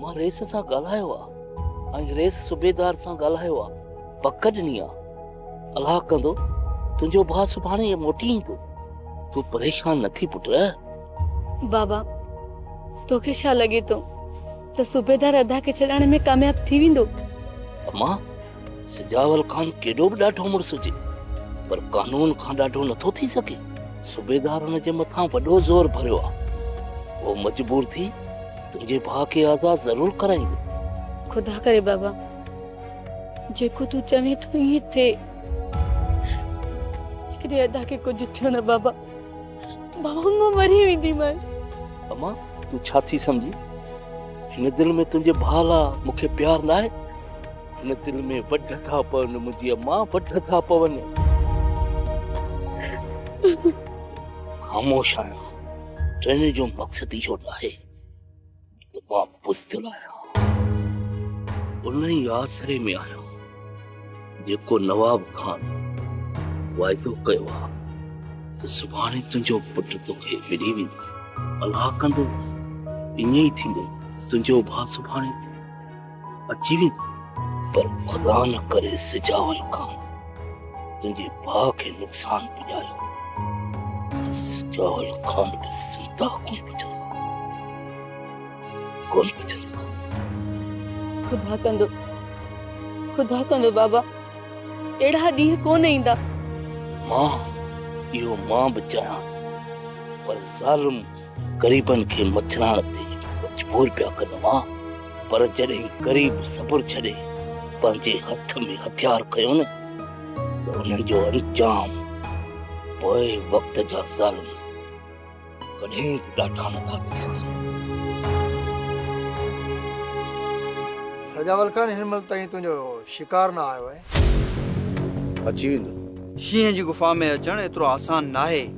مان رئيس سان ڳالهايو آ ۽ رئيس صوبيدار سان ڳالهايو آ پڪ ڏني آ الله ڪندو تنهنجو ڀاء سڀاڻي موٽي ايندو تون پريشان نه ٿي پٽ بابا توکي ڇا لڳي ٿو ته صوبيدار ادا کي ڇڏائڻ ۾ ڪامياب ٿي ويندو اما سجاول خان ڪيڏو به ڏاڍو مڙس هجي پر قانون کان ڏاڍو نٿو ٿي سگهي صوبيدار هن جي مٿان وڏو زور ڀريو آهي هو مجبور ٿي تنهنجي ڀاء کي آزاد ضرور ڪرائيندو خدا ڪري بابا جيڪو تون چوين ٿو ائين ٿئي جيڪڏهن ادا کي ڪجهه ٿيو نه بابا بابا مان مري وينديمانس. امان تون ڇا ٿي سمجهي؟ هن دل ۾ تنهنجي ڀاء لا مون کي پيار نه آهي. هن دل ۾ وڍ ٿا پون منهنجي امان وڍ ٿا پون. خاموش آهيان. چوڻ جو مقصد اهو آهي. بزدل آهيان ان ئي آسري ۾ آهيان جيڪو نواب خان وعدو ڪيو آهي ته سڀاڻي تنهنجو پٽ توکي ملي ويندو الاهه ڪندو ائين ئي ٿيندو تنهنجو ڀاء سڀاڻي اچي ويندو پر خدا نه ڪري سجاول کان تنهنجي ڀاء کي نقصان پڄايو ته سجاول خان به زنده ڪون بچندو ڪون بچندو خدا ڪندو خدا ڪندو بابا اهڙا ڏينهن ڪون ايندا مان اهو مان به چاهيان ٿو پر ظالم غريبن کي مڇرائڻ تي مجبور پيا ڪن اها، پر جڏهن غريب صبر ڇڏي پنهنجي هٿ ۾ هٿيار کنيو نه ته انهن جو انجام پوء وقت جا ظالم ڪڏهن به ڏاڍا نٿا ٿي سگهن. سجاول خان هن مهل تائين تنهنجو شڪار نه آيو آهي. اچي ويندو. شينهن جي غفا ۾ اچڻ ايترو آسان ناهي.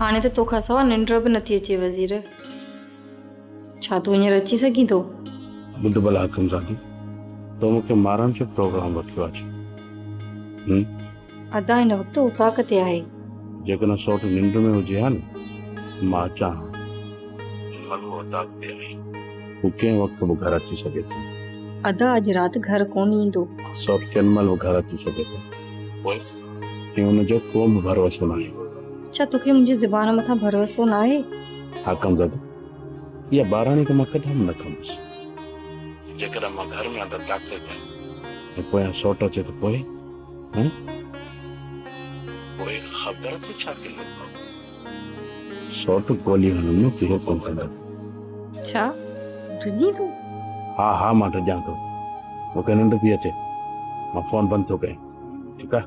هاڻي ته توکان سوا ننڊ به نٿي اچي وزير. ڇا تون هينئر اچي سگهين ٿو؟ ٻڌ ڀلا حڪم زادي، تو مون کي مارڻ جو پروگرام رکيو آهي ڇا؟ هم؟ ادا هن وقت اوطاق تي آهي. جيڪڏهن سوٽ ننڊ ۾ هجي ها نه ته مان اچان ها. هن مهل هو اوطاق تي آهي. هو ڪنهن وقت به گهر اچي سگهي ٿو. ادا اڄ رات گهر ڪونه ايندو. سوٽ ڪنهن مهل به گهر اچي سگهي ٿو. پوء؟ ۽ ان جو ڪو به ڀروسو ناهي. ڇا توکي منهنجي زبان مٿان ڀروسو ناهي؟ حاڪم زادو، اها ٻاراڻي ته مان ڪڏهن به نه ڪندس. جيڪڏهن مان گهر ۾ اندر داخل ٿيان ۽ پويان سوٽ اچي ته پوء؟ هه؟ پوء خبر ته ڇا ڪندين بابو؟ سوٽ گولي هڻندو ڪي حڪم ڪندو. ڇا ڊڄين تون؟ ها ها مان ڊڄان ٿو. مون کي ننڊ ٿي اچي. مان فون بند ٿو ڪيان. ٺيڪ آهي.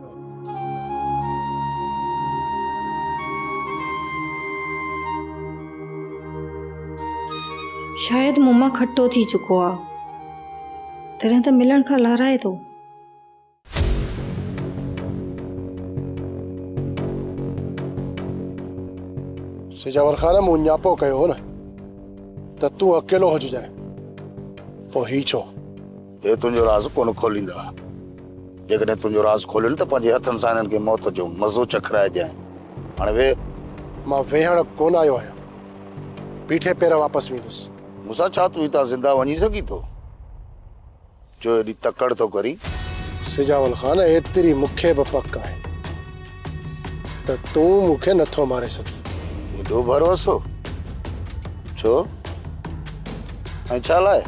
شايد مون مان کٽو ٿي چڪو آ. تڏهن ته ملڻ کان لارائي ٿو. سجاور خان مون ڃاپو ڪيو هو نه ته تون اڪيلو هججانء پوء هي ڇو؟ هي تنهنجو راز ڪونه کوليندا. جيڪڏهن تنهنجو راز کولين ته پنهنجي هٿن سان هنن کي موت جو مزو چکرائجانء. هاڻي ويهه. مان ويهڻ ڪونه آيو آهيان. بيٺي پير واپس ويندس. موسيٰ، ڇا تون هتان زنده وڃي سگهين ٿو؟ جو ايڏي تڪڙ ٿو ڪرين؟ سجاول خان، ايتري مون کي به پڪ آهي. ته تون مون کي نٿو ماري سگهين. ايڏو ڀروسو؟ ڇو ۽ ڇا لاء؟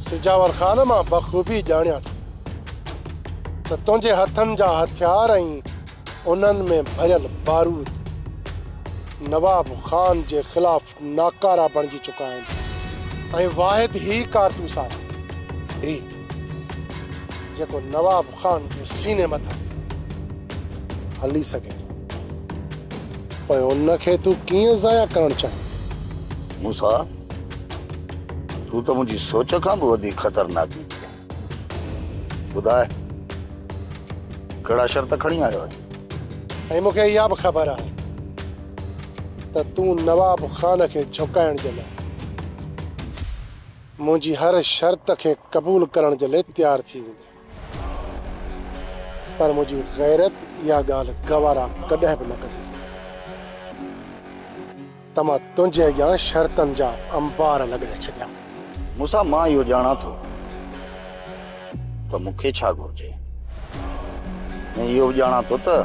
سجاور خان مان بخوبي ڄاڻيان ٿو ته تنهنجي هٿن جا هٿيار ۽ انهن ۾ ڀريل بارود نواب خان جي خلاف ناڪارا بڻجي چڪا آهن ۽ واحد هي ڪارتوس آهي هي جيڪو نواب خان جي سيني مٿان هلي سگهي ٿو پوء ان کي تون ڪيئن ضايع ڪرڻ چاهيندين؟ موسيٰ، تون ته منهنجي سوچ کان به وڌيڪ خطرناڪ نڪتين. ٻڌاء ڪهڙا شرط کڻي آيو آهين؟ ۽ مون کي اها به خبر آهي ته تون نواب خان کي جهڪائڻ جي لاء منهنجي هر شرط کي قبول ڪرڻ جي لاء تيار ٿي ويندين. پر منهنجي غيرت اها ڳالهه گوارا ڪڏهن به نه ڪندي. ته مان تنهنجي اڳيان شرطن جا انبار لڳائي ڇڏيان. موسيٰ، مان اهو ڄاڻان ٿو ته مون کي ڇا گهرجي ۽ اهو به ڄاڻان ٿو ته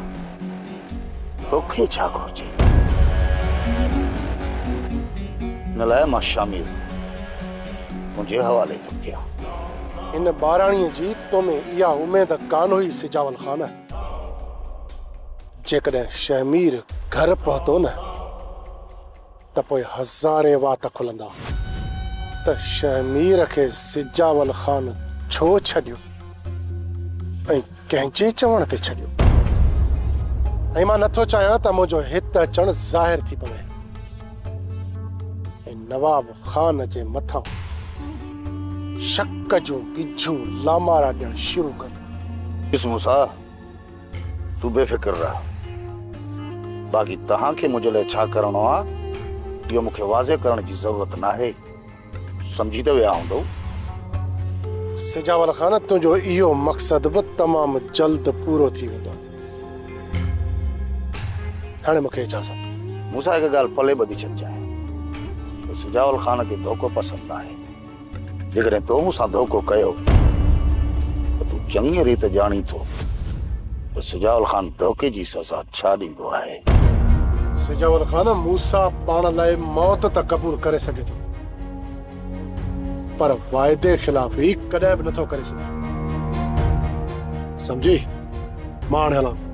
تو کي ڇا گهرجي. ان لاء مان شموئيل تنهنجي حوالي ٿو ڪيان. هن ٻاراڻيء جي تو ۾ اها اميد ڪانه هئي سجاول خان. جيڪڏهن شهمير گهر پهتو نه ته پوء هزارين وات کلندا ته شهمير کي سجاول خان ڇو ڇڏيو ۽ ڪنهن جي چوڻ تي ڇڏيو ۽ مان نٿو چاهيان ته منهنجو هت اچڻ ظاهر ٿي پوي ۽ نواب خان جي مٿان شڪ جون ٻجھون لامارا ڏيڻ شروع ڪن. ڏس موسيٰ! تون بي فڪر رهه. باقي توهان کي منهنجي لاء ڇا ڪرڻو آ، اهو مون کي واضح ڪرڻ جي ضرورت ناهي. سمجهي ته ويا هوندؤ. سجاول خان، تنهنجو اهو مقصد به تمام جلد پورو ٿي ويندو. هاڻي مون کي اجازت. مون سان هڪ ڳالهه پلي ٻڌي ڇڏجانء ته سجاول خان کي ڌوڪو پسند ناهي. جيڪڏهن تو مون سان ڌوڪو ڪيو ته تون چڱيء ريت ڄاڻين ٿو ته سجاول خان ڌوڪي جي سزا ڇا ڏيندو آهي. سجاول خان، موسيٰ پاڻ لاء موت ته قبول ڪري سگهي ٿو، پر واعدي خلافي ڪڏهن به نٿو ڪري سگهي. سمجهي؟ مان هاڻي هلان.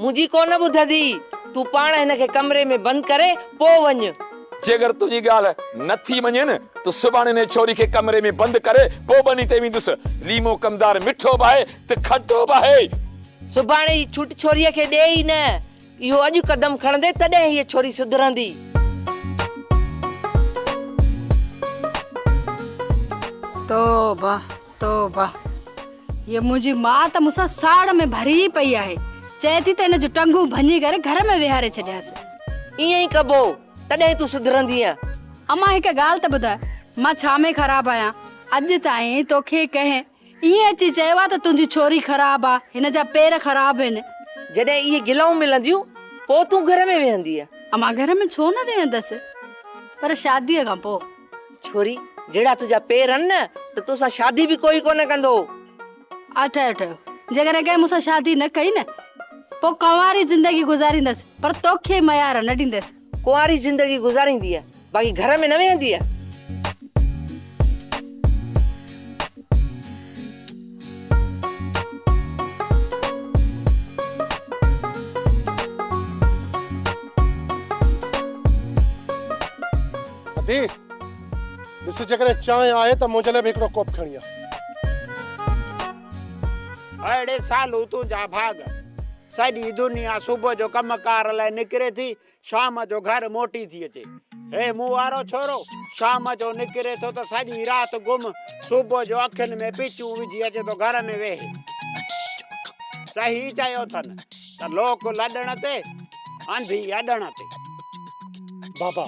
منهنجي ڪونه ٻڌندي، تون پاڻ هن کي ڪمري ۾ بند ڪري پوء وڃ. جيڪر تنهنجي ڳالهه نه ٿي مڃي نه ته سڀاڻي انهيء ڇوري کي ڪمري ۾ بند ڪري پوء ٻني تي ويندس. ليمو ڪمدار مٺو به آهي ته کٽو به آهي. سڀاڻي جي ڇوٽ ڇوريء کي ڏي ئي نه. اهو اڄ قدم کڻندي تڏهن هيء ڇوري سڌرندي. توبه! توبه هيء منهنجي ماء ته مون سان ساڙ ۾ ڀري پئي آهي، چئي ٿي ته هن جون ٽنگون ڀڃي ڪري گهر ۾ ويهاري ڇڏيانس. ائين ئي ڪبو، تڏهن تون سڌرندينء. امان هڪ ڳالهه ته ٻڌاء، مان ڇا ۾ خراب آهيان؟ اڄ تائين توکي ڪنهن ائين اچي چيو آهي ته تنهنجي ڇوري خراب آ، هن جا پير خراب هن؟ جڏهن اهي گلائون ملنديون، پوء تون گهر ۾ ويهندينء. امان گهر ۾ ڇو نه ويهندس، پر شاديء کان پوء. ڇوري جهڙا تنهنجا پير هن نه ته تو سان شادي به ڪوئي ڪونه ڪندو. اها ٺهيو ٺهيو جيڪڏهن ڪنهن مون سان شادي نه ڪئي نه پوء ڪنواري زندگي گذاريندس پر توکي ميار نه ڏيندس. ڪنواري زندگي گذارينديء باقي گهر ۾ نه ويهنديء. ادي ڏس جيڪڏهن چانهه آهي ته منهنجي لاء به هڪڙو ڪوپ کڻي آ. اڙي سالو تون جا ڀاڳ. سڄي دنيا صبح جو ڪم ڪار لاء نڪري ٿي شام جو گهر موٽي ٿي اچي. هي مون وارو ڇورو شام جو نڪري ٿو ته سڄي رات گم صبح جو اکين ۾ پچون وجهي اچي ٿو گهر ۾ ويهي. صحيح چيو اٿن ته لوڪ لڏڻ تي آنڌي اڏڻ تي بابا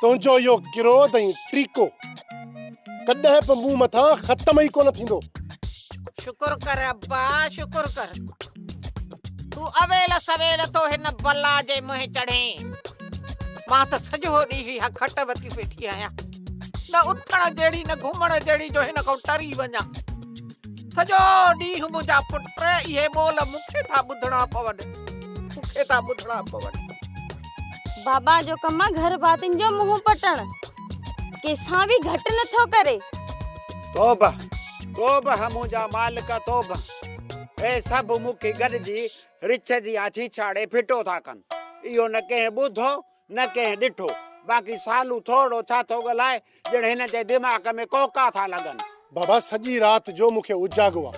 تنهنجو اهو ڪروڌ ۽ ٽريڪو ڪڏهن به مون مٿان ختم ئي ڪونه ٿيندو شڪر ڪر ابا شڪر ڪر تون اويل سويل ٿو هن بلا جي منهن چڙهين مان ته سڄو ڏينهن اها کٽ وتي ويٺي آهيان نه اٿڻ جهڙي نه گهمڻ جهڙي جو هن کان ٽري وڃان سڄو ڏينهن منهنجا پٽ اهي ٻول مون کي ٿا ٻڌڻا پون، مون کي ٿا ٻڌڻا پون. بابا جو ڪم آ گهر ڀاتين جو منهن پٽڻ، ڪنهن سان به گهٽ نه ٿو ڪري. توبه توبه منهنجا مالڪ توبه، هي سڀ مون کي گڏجي رڇ جيان ڇيڇاڙي ڦٽو ٿا ڪن، اهو نه ڪنهن ٻڌو، نه ڪنهن ڏٺو. باقي سالو ٿورڙو ڇا ٿو ڳالهائي ڄڻ هن جي دماغ ۾ ڪوڪا ٿا لڳن. بابا سڄي رات جو مون کي اجاڳو آ.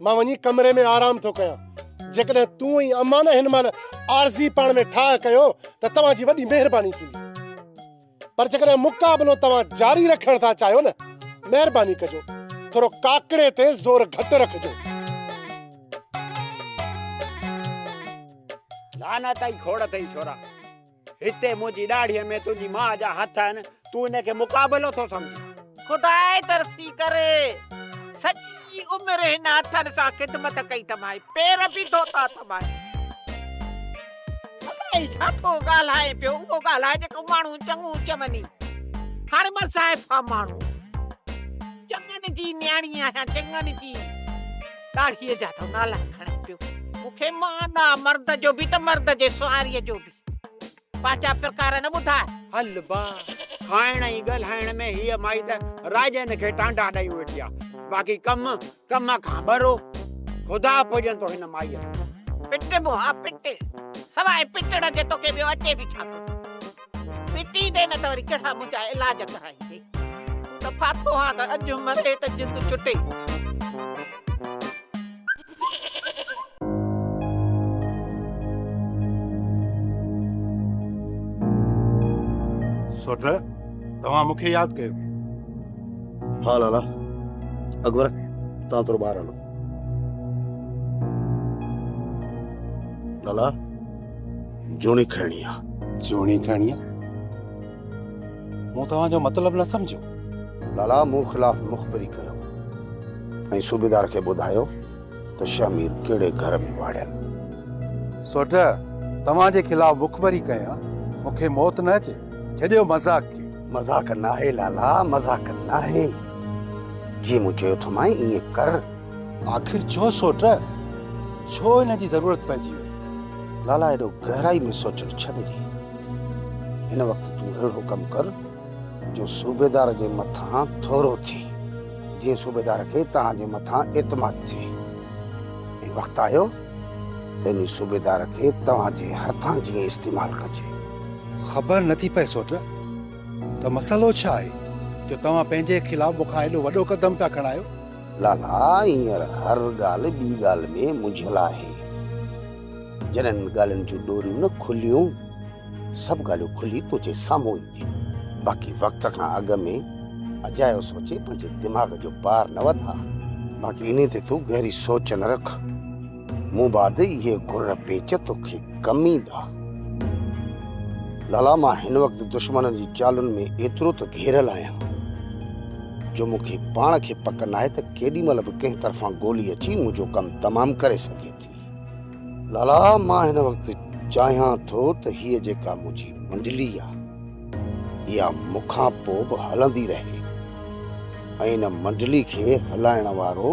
مان وڃي ڪمري ۾ آرام ٿو ڪيان. جيڪڏهن تون ۽ امان نه هن مهل عارضي پاڻ ۾ ٺاهه ڪيو ته توهان جي وڏي مهرباني ٿيندي. پر جيڪڏهن مقابلو توهان جاري رکڻ ٿا چاهيو نه مهرباني ڪجو ٿورو ڪاڪڙي تي زور گهٽ رکجو. لعنت ۽ کوڙ اٿئي ڇورا، هتي منهنجي ڏاڙهيء ۾ تنهنجي ماء جا هٿ آهن، تون ان کي مقابلو ٿو سمجهين. خدا ئي ترسي ڪري، سڄي عمر هن هٿن سان خدمت ڪئي اٿمانء، پير به ڌوتا اٿمانء. خدا ئي ڇا ٿو ڳالهائين پيو، اهو ڳالهاء جيڪو ماڻهو چڱو چوندي. هاڻي مان ضعيفه ماڻهو، چڱن جي نياڻي آهيان، چڱن جي. ڏاڙهيء جا ٿو نالا کڻان پيو. مون کي مان ڏا مرد جو به ته مرد جي سواريء جو به پنهنجا پرڪار نه ٻڌاء. هل با، کائڻ ۽ ڳالهائڻ ۾ هيء مائي ته راڄن کي ٽانڊا ڏيون ويٺي آ، باقي ڪم، ڪم کان ٻرو. خدا پڄن ٿو هن مائيء سان. پٽ به ها پٽ، سواء پٽڻ جي توکي ٻيو اچي به ڇا ٿو؟ مٽي ڏي نه ته وري ڪهڙا منهنجا علاج ڪرائيندي. ته ڦاٿو هان ته اڄ مري ته جند چٽي. سوٽ، توهان مون کي ياد ڪيو. ها لالا، اڪبر توهان ٿورو ٻاهر هلو. لالا. جوڻي کڻي آ جوڻي کڻي آ مون توهان جو مطلب نه سمجهيو لالا مون خلاف مخبري ڪيو ۽ صوبيدار کي ٻڌايو ته شهمير ڪهڙي گهر ۾ واڙيل سوٽ توهان جي خلاف مخبري ڪيان مون کي موت نه اچي ڇڏيو مذاق کي مذاق ناهي لالا مذاق ناهي جي مون چيو ٿو مائين ائين ڪر آخر ڇو سوٽ؟ ڇو ان جي ضرورت پئجي وئي؟ لالا ايڏو گهرائي ۾ سوچڻ ڇڏ ڏي. هن وقت تون اهڙو ڪم ڪر جو صوبيدار جي مٿان ٿورو ٿي. جيئن صوبيدار کي توهان جي مٿان اعتماد ٿئي. ۽ وقت آيو ته انهي صوبيدار کي توهان جي هٿان جيئن استعمال ڪجي. خبر نٿي پئي سوٽ ته مسئلو ڇا آهي جو توهان پنهنجي خلاف مون کان ايڏو وڏو قدم پيا کڻايو. لالا هينئر هر ڳالهه ٻي ڳالهه ۾ منجهيل آهي. جڏهن ڳالهين جون ڏوريون نه کليون، سڀ ڳالهيون کلي تنهنجي سامهون اينديون. باقي وقت کان اڳ ۾ اجايو سوچي پنهنجي دماغ جو بار نه وڌاء. باقي انهي تي تون گهري سوچ نه رک. مون بعد اهي گر پيچ توکي ڪم ايندا. لالا مان هن وقت دشمنن جي چالن ۾ ايترو ته گهيريل آهيان جو مون کي پاڻ کي پڪ ناهي ته ڪيڏي مهل به ڪنهن طرفان گولي اچي منهنجو ڪم تمام ڪري سگهي ٿي. لالا مان هن وقت چاهيان ٿو ته هيء جيڪا منهنجي منڊلي آهي اها مون کان پوء به هلندي رهي ۽ ان منڊلي کي هلائڻ وارو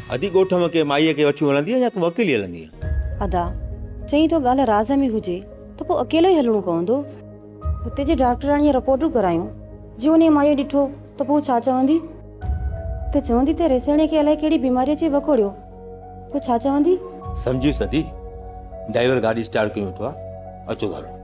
ادي ڳوٺ ۾ ڪنهن مائيء کي وٺي هلندينء يا تون اڪيلي هلندينء؟ ادا، چئين ٿو ڳالهه راز ۾ هجي ته پوء اڪيلو ئي هلڻو پوندو. هتي جي ڊاڪٽراڻيء رپورٽون ڪرايون، جي انهيء مائيء ڏٺو ته پوء ڇا چوندي؟ ته چوندي ته ريسيڻيء کي الائي ڪهڙي بيماري اچي وڪوڙيو. پوء ڇا چوندي؟ سمجهيس ادي، ڊائيور گاڏي اسٽارٽ ڪيون ويٺو آهي، اچو ٿا هلون.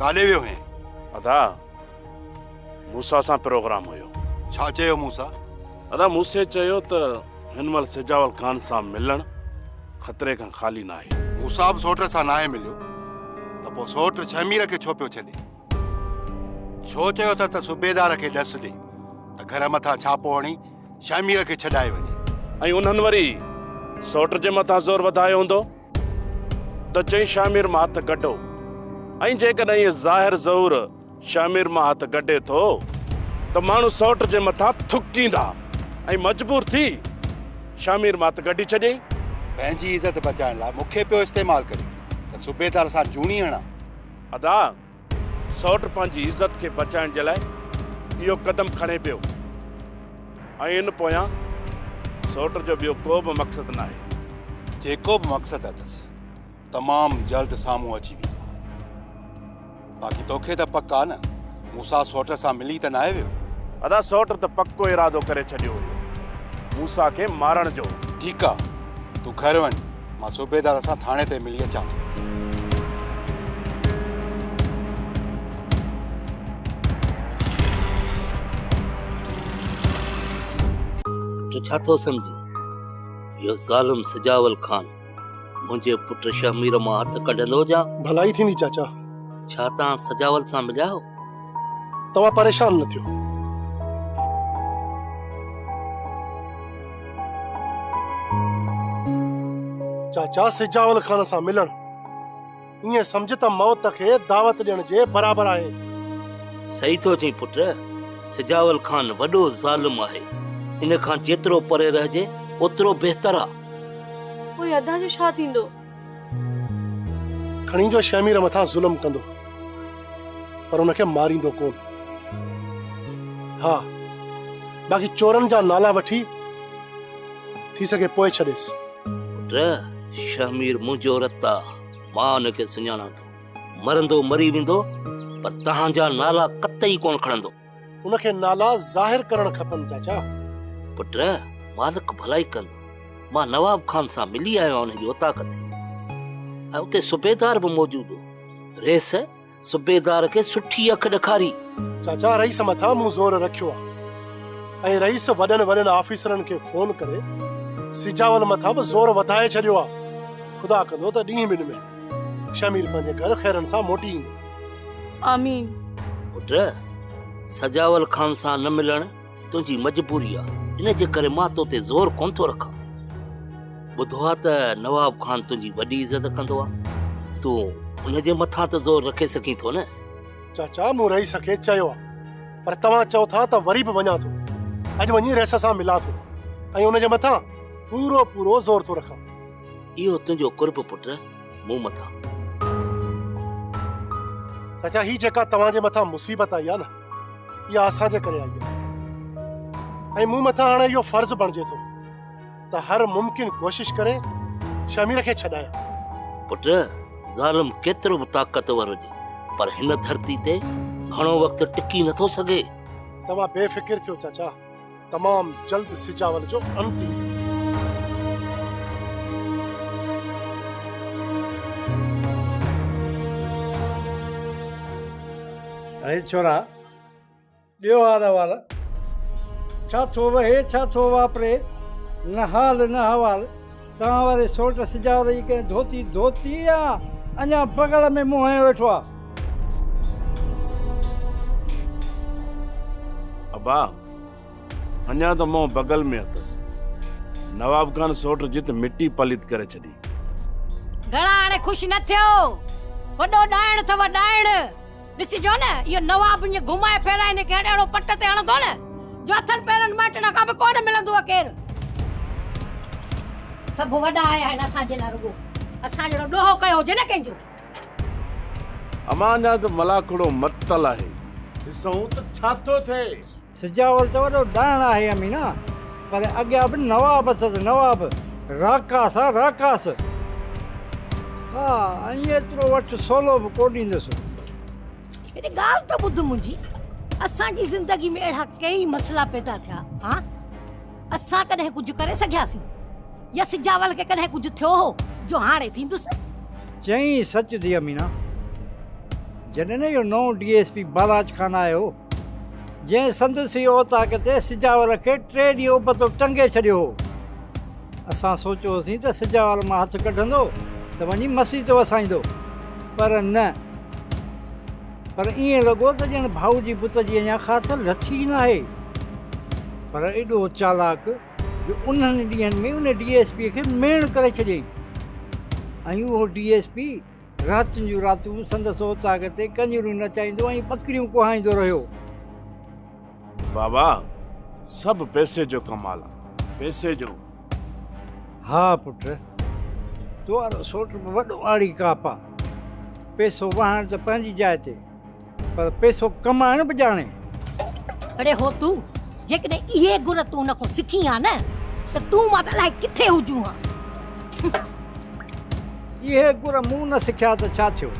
ڪاڏي ويو هين؟ ادا موسيٰ سان پروگرام هيو. ڇا چيو موسيٰ؟ ادا موسيٰ چيو ته هن مهل سجاول خان سان ملڻ خطري کان خالي ناهي. موسيٰ به سوٽ سان ناهي مليو ته پوء سوٽ شهمير کي ڇو پيو ڇڏي؟ ڇو چيو اٿس ته صوبيدار کي ڏس ڏي ته گهر مٿان ڇاپو هڻي شاهمير کي ڇڏائي وڃي. ۽ انهن وري سئوٽ جي مٿان زور وڌايو هوندو ته چئين شاهمير مان هٿ ڪڍو. ۽ جيڪڏهن ايئن ظاهر ظهور شاهمير مان هٿ ڪڍي ٿو ته ماڻهو سئوٽ جي مٿان ٿڪيندا ۽ مجبور ٿي شاهمير مان هٿ ڪڍي ڇڏيئي. پنهنجي عزت بچائڻ لاء مون کي پيو استعمال ڪري ته صوبيدار سان جوڻي هڻان. ادا! سئوٽ پنهنجي عزت کي بچائڻ جي لاء اهو قدم کڻي پيو ۽ ان پويان سئوٽ جو ٻيو ڪو به مقصد ناهي. جيڪو به مقصد اٿس تمام جلد سامهون اچي ويندو. باقي توکي ته پڪ آ نه مون سان سئوٽ سان ملي ته ناهي ويو؟ ادا سئوٽ ته پڪو ارادو ڪري ڇڏيو هيو مون سان کي مارڻ جو. ٺيڪ آ تون گهر وڃ. مان صوبيدار سان ٿاڻي تي ملي اچان ٿو تو ڇا ٿو سمجھين اهو ظالم سجاول خان منهنجي پٽ شهمير مان هٿ ڪڍندو جا ڀلائي ٿيندي چاچا ڇا توهان سجاول سان مليا آهو توهان پريشان نه ٿيو. چاچا سجاول خان سان ملڻ ائين سمجهه ته موت کي دعوت ڏيڻ جي برابر آهي. صحيح ٿو چئين پٽ، سجاول خان وڏو ظالم آهي، ان کان جيترو پري رهجي اوترو بهتر آ. پوء ادا جو ڇا ٿيندو؟ کڻي جو شهمير مٿان ظلم ڪندو پر ان کي ماريندو ڪون ها باقي چورن جا نالا وٺي ٿي سگهي پوء ڇڏيس پٽ شهمير منهنجو رت آ مان ان کي سڃاڻان ٿو مرندو مري ويندو پر تهان جا نالا قطعي ڪون کڻندو ان کي نالا ظاهر ڪرڻ کپن چاچا. پٽ مالڪ ڀلائي ڪندو. مان نواب خان سان ملي آيو آهيان ان جي اوطاق تي ۽ اتي صوبيدار به موجود هو. رئيس صوبيدار کي سٺي اک ڏکاري. چاچا رئيس مٿان مون زور رکيو آهي ۽ رئيس وڏن وڏن آفيسرن کي فون ڪري سجاول مٿان به زور وڌائي ڇڏيو آهي. خدا ڪندو ته ڏينهن ٻن ۾ شمير پنهنجي گهر خيرن سان موٽي ايندو. آمين. پٽ! سجاول خان سان نه ملڻ تنهنجي مجبوري آ، ان جي ڪري مان تو تي زور ڪونه ٿو رکان. ٻڌو آ ته نواب خان تنهنجي وڏي عزت ڪندو آ، تون ان جي مٿان ته زور رکي سگهين ٿو نه؟ چاچا مون رئيس کي چيو آ، پر توهان چئو ٿا ته وري به وڃان ٿو. اڄ وڃي رئيس سان ملان ٿو ۽ ان جي مٿان پورو پورو زور ٿو رکان. اهو تنهنجو قرب پٽ مون مٿان. چاچا هي جيڪا توهان جي مٿان مصيبت آئي آ نه اها اسان جي ڪري آئي آ ۽ مون مٿان هاڻي اهو فرض بڻجي ٿو ته هر ممڪن ڪوشش ڪري شمير کي ڇڏايان پٽ ظالم ڪيترو به طاقتور هجي پر هن ڌرتي تي گهڻو وقت ٽڪي نٿو سگهي توهان بي فڪر ٿيو چاچا تمام جلد سجاول جو انت ايندو. اي ڇورا! ڏيو هار احوال. ڇا ٿو وهي ڇا ٿو واپري، نه حال نه احوال. توهان واري سوٽ سجاول جي ڪنهن ڌوتي ڌوتي يا اڃا بغل ۾ منهن هنيو ويٺو آ. ابا! اڃا ته مئو بغل ۾ اٿس. نواب خان سوٽ جت مٽي پليت ڪري ڇڏي. گهڻا هاڻي خوش نه ٿيو. وڏو ڏائڻ اٿئو ڏائڻ. ڏسجو نه اهو نواب ايئن گهمائي ڦيرائي هن کي اهڙو پٽ تي هڻندو نه جو هٿن پيرن مائٽن کان به ڪونه ملندوء ڪير. سڀ وڏا آيا آهن اسان جي لاء رڳو اسان جهڙو ڏوهو ڪيو هجي نه ڪنهن جو. امان جان ته ملاکڙو متل آهي. ڏسون ته ڇا ٿو ٿئي. سجاول ته وڏو ڏائڻ آهي امينا، پر اڳيان به نواب اٿس نواب، راڪاس آ راڪاس. ها ۽ ايترو وٺ سولو به ڪو ڏيندس. هڪ ڳالهه ته ٻڌ منهنجي، اسان جي زندگي ۾ اهڙا ڪيئي مسئلا پيدا ٿيا ها. اسان ڪڏهن ڪجهه ڪري سگهياسين يا سجاول کي ڪڏهن ڪجهه ٿيو هو جو هاڻي ٿيندس چئين سچ ٿي امينا جڏهن اهو نئون D S P Balaj Khan آيو جنهن سندس ئي اوطاق تي سجاول کي ٽي ڏينهن ابتو ٽنگي ڇڏيو هو اسان سوچيو هوسين ته سجاول مان هٿ ڪڍندو ته وڃي مسيح تي وسائيندو پر نه پر ائين لڳو ته ڄڻ ڀائو جي بت جي اڃا خاص لٿ ئي ناهي. پر ايڏو چالاڪ جو انهن ڏينهن ۾ ان ڊي ايس پيء کي ميڻ ڪري ڇڏيائين ۽ اهو ڊي ايس پي راتين جون راتون سندس اوطاق تي ڪنجريون نچائيندو ۽ ٻڪريون ڪهائيندو رهيو. بابا، سڀ پئسي جو ڪمال آ، پئسي جو. ها پٽ، تو وارو سوٽ به وڏو آڙي ڪاپ آ. پئسو وهائڻ ته پنهنجي جاء تي، پر پئسو ڪمائڻ به ڄاڻين. اڙي هو تون، جيڪڏهن اهي گر تون ان کان سکين ها نه، ته تون مان ته الائي ڪٿي هجون ها. اهي گر مون نه سکيا ته ڇا ٿيو؟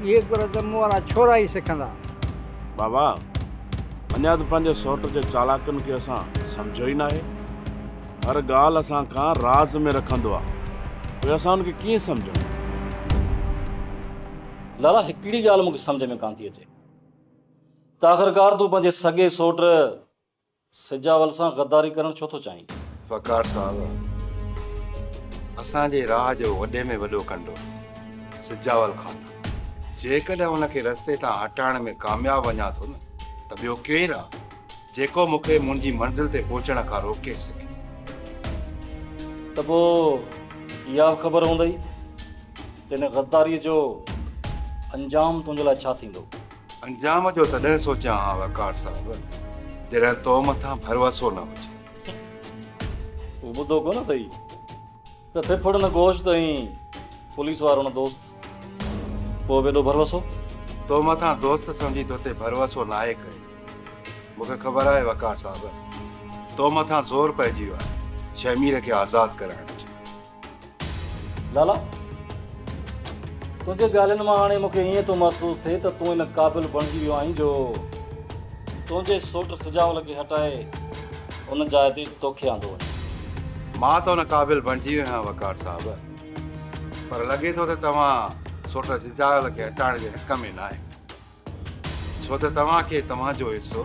اهي گر ته مون وارا ڇورا ئي سکندا. بابا! اڃا ته پنهنجي سئوٽ جي چالاڪن کي اسان سمجهيو ئي ناهي. هر ڳالهه اسان کان راز ۾ رکندو آ، پوء اسان هن کي ڪيئن سمجهون؟ لالا هڪڙي ڳالهه مون کي سمجهه ۾ ڪانه ٿي اچي ته آخرڪار تون پنهنجي سڳي سئوٽ سجاول سان غداري ڪرڻ ڇو ٿو چاهين؟ وقار صاحب اسان جي راهه جو وڏي ۾ وڏو ڪنڊو سجاول خان آ جيڪڏهن ان کي رستي تان هٽائڻ ۾ ڪامياب وڃان ٿو نه ته ٻيو ڪير آ جيڪو مون کي منهنجي منزل تي پهچڻ کان روڪي سگهي. ته پوء اها به خبر هوندئي ته ان غداريء جو انجام تنهنجي لاء ڇا ٿيندو. انجام جو تڏهن سوچان ها وقار صاحب جڏهن تو مٿان ڀروسو نه هجي. تون ٻڌو ڪونه اٿئي ته ڦڦڙ نه گوشت ۽ پوليس وارو نه دوست پوء به ايڏو ڀروسو؟ تو مٿان دوست سمجهي توتي ڀروسو ناهي ڪيو. مون کي خبر آهي وقار صاحب تو مٿان زور پئجي ويو آهي شهمير کي آزاد ڪرائڻ جو. لالا تنهنجي ڳالهين مان هاڻي مونکي ائين ٿو محسوس ٿئي ته تون ان قابل بڻجي ويو آهين جو تنهنجي سوٽ سجاول کي هٽائي ان جاء تي توکي آندو وڃي. مان ته ان قابل بڻجي ويو آهيان وقار صاحب پر لڳي ٿو ته توهان سوٽ سجاول کي هٽائڻ جي حق ۾ ناهي. ڇو ته توهان کي توهان جو حصو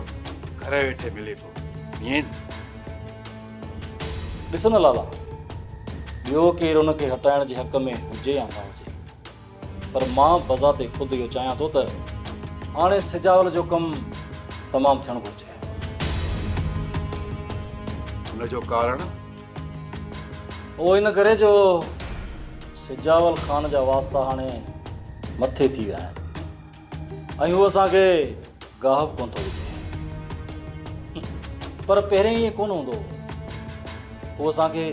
گهر ويٺي ملي ٿو ائين نه؟ ڏس نه لالا، ٻيو ڪير ان کي هٽائڻ جي حق ۾ هجي يا نه هجي، پر مان بذات خود اهو چاهيان ٿو ته هاڻي سجاول جو ڪم تمام ٿيڻ گهرجي. ان جو ڪارڻ؟ اهو ان ڪري جو سجاول خان جا واسطا هاڻي مٿي ٿي ويا آهن ۽ هو اسان کي گاهپ ڪونه ٿو وجهي پر پهرين ائين ڪونه هوندو هو اسان کي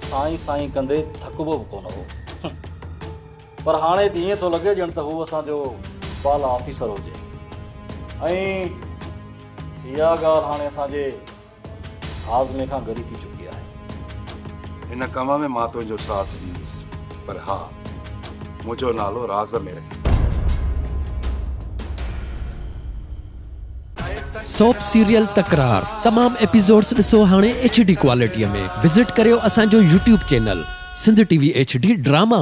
سائين سائين ڪندي ٿڪبو به ڪونه هو پر هاڻي ته ائين ٿو لڳي ڄڻ ته هو اسان جو بالا آفيسر هجي ۽ اها ڳالهه هاڻي اسان جي هاضمي کان ڳري ٿي چڪي آهي. هن ڪم ۾ مان تنهنجو ساٿ ڏيندس پر ها منهنجو نالو راز ۾ رهي. سوپ سيريل تڪرار تمام ايپيسوڊز ڏسو هاڻي ايڇ ڊي ڪوالٽي ۾ وزٽ ڪريو اسان جو YouTube channel Sindh T V H D drama.